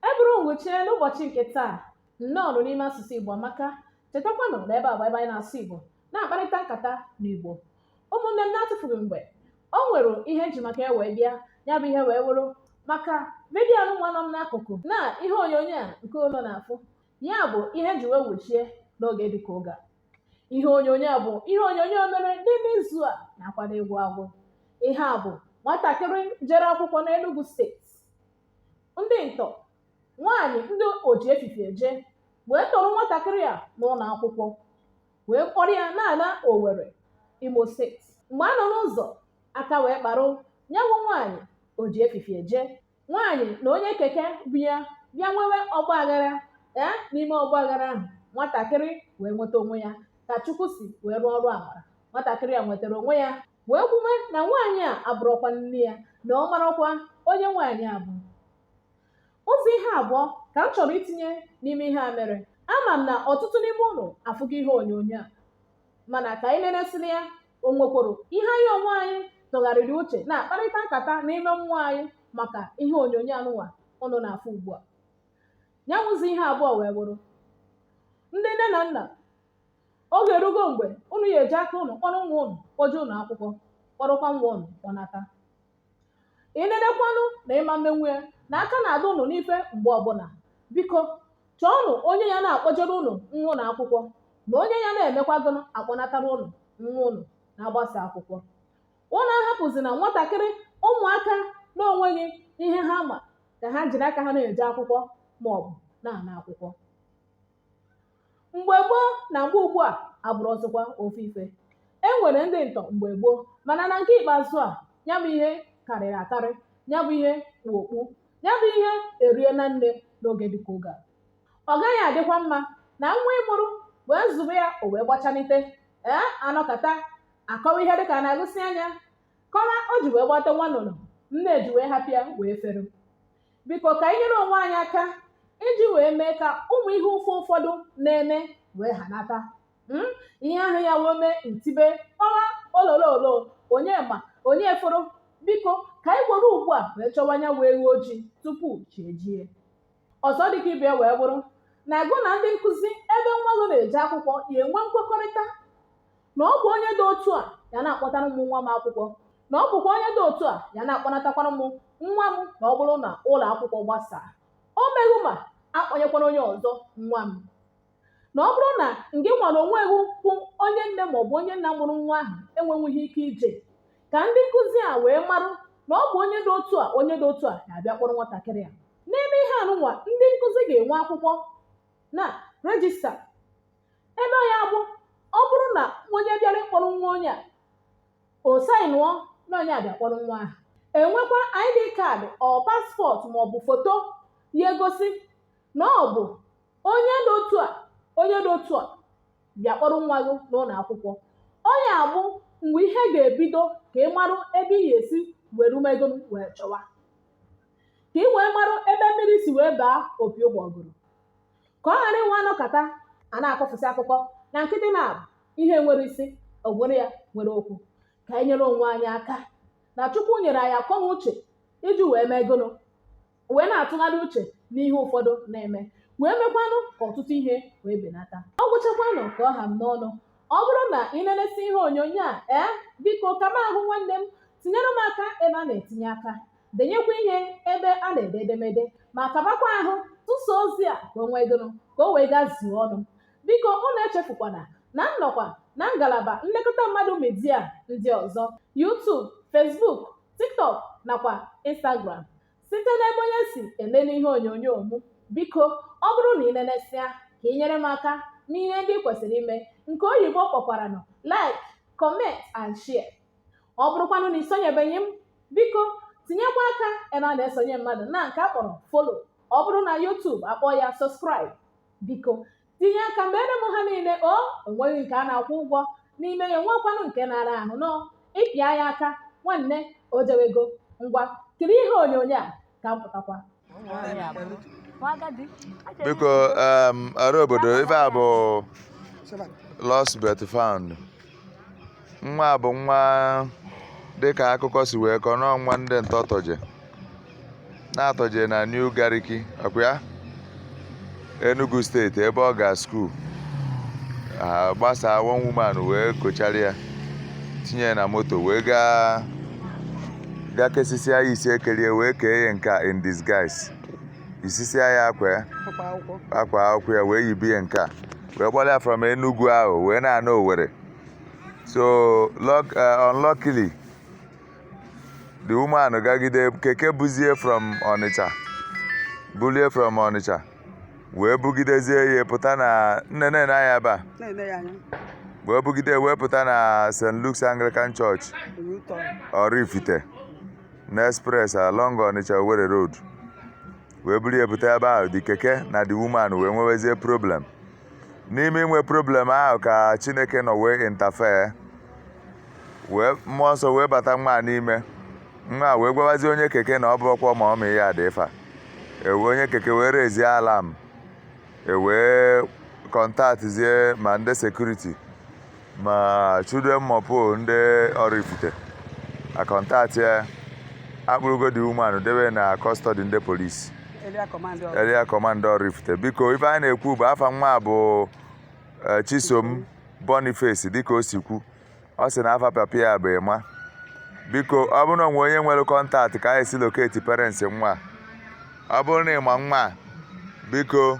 E bụrụ m wuchie n'ụbọchị nke taa nnọọ nụ n'ime asụsụ Igbo amaka chetakwanụ na ebe a bụ ebe anyị na-asụ Igbo na-akparịta nkata n'Igbo ụmụnne m na-atụfughị mgbe o nwere ihe m ji maka ya wee bịa ya bụ ihe wee wụrụ maka vidiyo nwa nọ m n'akụkụ na ihe onyonyo a nke unu na-afụ ya bụ ihe m ji wee wuchie n'oge dịka oge a ihe onyonyo a bụ ihe onyonyo mere n'ime izu a na-akwado ịgwụ agwụ ihe a bụ nwatakịrị jere akwụkwọ n'Enugu steeti ndị ntọ nwaanyị ndị oji efifie eje wee tọrọ nwatakịrị a n'ụlọ akwụkwọ wee kpọrọ ya na-ana Owerri Imo steeti mgbe a nọ n'ụzọ aka wee kparụ ya bụ nwaanyị oji efifie eje nwaanyị na onye keke bu ya bịa nwewe ọgba aghara ee n'ime ọgba aghara ahụ nwatakịrị wee nweta onwe ya ka Chukwu si wee rụọ ọrụ amara nwatakịrị a nwetara onwe ya wee kwuwe na nwaanyị a abụrọkwa nne ya na ọ marọkwa onye nwaanyị a bụ ụzọ ihe abụọ ka m chọrọ itinye n'ime ihe a mere ama m na ọtụtụ n'ime unu afụgo ihe onyonyo a mana ka anyị leresịrị ya o nwekworo ihe anyị onwe anyị tụgharịrị uche na-akparịta nkata n'ime mmụọ anyị maka ihe onyonyo anụnwa unu na-afụ ugbu a ya wụ ụzọ ihe abụọ wee wụrụ ndị nne na nna oge erugo mgbe unu ya-eji aka unu kpọrọ nwa unu kpọje ụlọ akwụkwọ kpọrọkwa nwa unu kpọnata ị nenekwanụ na ị ma emenwu ya na aka na-adị unu n'ife mgbe ọbụla biko chọọnụ onye ya na-akpọjere unu nwa unu akwụkwọ na onye ya na-emekwa gụnụ akpọnatara unu nwa unu na a gbasa akwụkwọ unu ahapụzina nwatakịrị ụmụaka na-onweghị ihe ha ma ka ha jiri aka ha na-eje akwụkwọ ma ọ bụ na-ana akwụkwọ mgbe gboo na mgbe ugbu a abụrọzikwa ofu ife e nwere ndị ntọ mgbe gboo mana na nke ikpeazụ a ya bụ ihe karịrị akarị ya bụ ihe kpu okpu ya bụ ihe eriena nne n'oge dịka oge a ọ gaghị adịkwa mma na nwa ị mụrụ wee zụbe ya o wee gbachanite ee anọkata akọwa ihe dịka a na-agụsị anya kọwa o ji wee gbata nwa nnụnụ nne ji wee hapụ ya wee fere biko ka anyị nyere onwe anyị aka iji wee mee ka ụmụ ihe ụfụ ụfọdụ na-eme wee hanata Mm? ihe ahụ ya wee mee ntibe ọwa olololo onye ma onye fụrụ biko ka anyị gwere ugbu a wee chọwa ya wụ eghu ojii tupu chi ejie ọzọ dịka ibe ya wee bụrụ na gị na ndị nkụzi ebe nwa gị na-eje akwụkwọ ya enwe nkwekọrịta na ọ bụ onye dị otu a ya na-akpọtara m nwa m akwụkwọ na ọ bụkwa onye dị otu a ya na-akpọnatakwara m nwa m na ọ bụrụ na ụlọ akwụkwọ gbasaa o meghị ma akpọnyekwara onye ọzọ nwa m na ọ bụrụ na ngị nwara onwe gị bụ onye nne ma ọ bụ onye nna mụrụ nwa ahụ enwenwughị ike ije ka ndị nkụzi a wee marụ na ọ bụ onye dị otu a onye dị otu a ga-abịa kpọrọ nwatakịrị a n'ime ihe anụnwa ndị nkụzi ga-enwe akwụkwọ na rejista ebe ya bụ ọ bụrụ na onye bịara ịkpọrọ nwa onye a o sainụọ na onye abịa kpọrọ nwa ahụ enwekwa ID card or passport maọbụ foto ya egosi na ọ bụ onye dị otu a onye dị otu a bịa kpọrọ nwa gị n'ụlọ akwụkwọ ọ ya bụ mgbe ihe ga-ebido ka ị marụ ebe ị ga-esi were mee gịnụ wee chọwa ka ị wee marụ ebe mmiri si wee baa opi ụgbọgụrụ ka ọ ghara inwe a nọkata a na-akọfụsị akụkọ na nkịtị na ihe nwere isi ogwere ya nwere okwu ka anyị nyere onwe anyị aka na chukwu nyere anyị akọ na uche iji wee mee gịnụ wee na-atụgharị uche n'ihe ụfọdụ na-eme wee mekwanụ ka ọtụtụ ihe wee benata ọ gwụchakwanụ ka ọ ha m n'ọnụ ọ bụrụ na ị nenesịa ihe onyonyo a ee biko kaba ahụ nwanne m tinyere m aka ebe a na-etinye aka denyekwa ihe ebe a na-ede edemede ma kabakwa ahụ tụsa ozi a ka o nwee gịnụ ka o wee gaa zuo ọnụ biko unu echefukwana na m nọkwa na ngalaba nlekọta mmadụ media ndị ọzọ YouTube Facebook TikTok nakwa Instagram site n'ebe onye si elele ihe onyonyo mụ biko ọ bụrụ na ị nenesịa ka ị nyere m aka n'ihe ndị ị kwesịrị ime nke oyibo kpọkwaranụ like comment and share ọ bụrụkwanụ na i sonyebeghị m biko tinyekwa aka ebe a na-esonye mmadụ na nke a kpọrọ follow ọ bụrụ na YouTube a kpọọ ya subscribe biko tinye aka meere m ha niile o enweghị nke a na-akwụ ụgwọ n'ime ya nwekwanụ nke na-ara ahụ nọ ịpịa ya aka nwanne o jewego ngwa kiri ihe onyonyo a ka m pụtakwa biko um, ọra obodo ife a bụ lost but found nwa bụ nwa dịka akụkọ si wee kọọ nọọ nwa ndị ntọ tọje na-atọje na New Gariki ọkwa ya Enugu steeti ebe ọ ga school gbasaa one woman wee kochara ya tinye ya na moto wee gaa gaa kesisia ya isi ekelie wee kee ya nke a in disguise yisisia ya akwa ya Akwa akwụkwọ. akwa akwụkwọ ya wee yibe ya nke a wee kpọrọ ya from Enugu ahụ wee na-ana Owerri so luck- eh, unluckily the woman gagide keke buzie from ọnịcha bulie from ọnịcha wee bugidezie ya pụta na nne na ya ba wee bugide wee pụta na st luke's anglican church Oraifite na express along Onitsha Owerri road wee buru ya pụta ebe ahụ the keke na the woman wee nwewezie problem n'ime inwe problem ahụ ka chineke nọ wee interfere wee mmụọ nsọ wee bata nwa a n'ime nwa a wee gwawazie onye keke na ọ bụrọkwa mummy ya dị ifa ewe onye keke wee rezie alarm e wee kọntaktzie ma ndị security ma Chude mopol ndị Oraifite a kọntaktị ya a kpụrụgo the woman debe na custody ndị police area command Oraifite biko ife anyị na-ekwu bụ afa nwa bụ eh, Chisom Boniface dịka o si kwu ọ sị na afa papa ya bụ Emma biko ọ bụrụ na o nwee onye nwere contact ka anyị si locate parents nwa ọ bụrụ na ị ma nwa a biko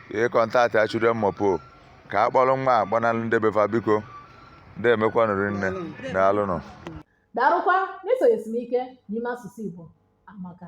ị kọntaktịa Chude mopol ka a kpọrọ nwa a kpọnalụ ndị be fa biko ndemekwanụ rinne daalụnụ Darụkwa n'isonyesi m ike n'ime asụsụ Igbo amaka.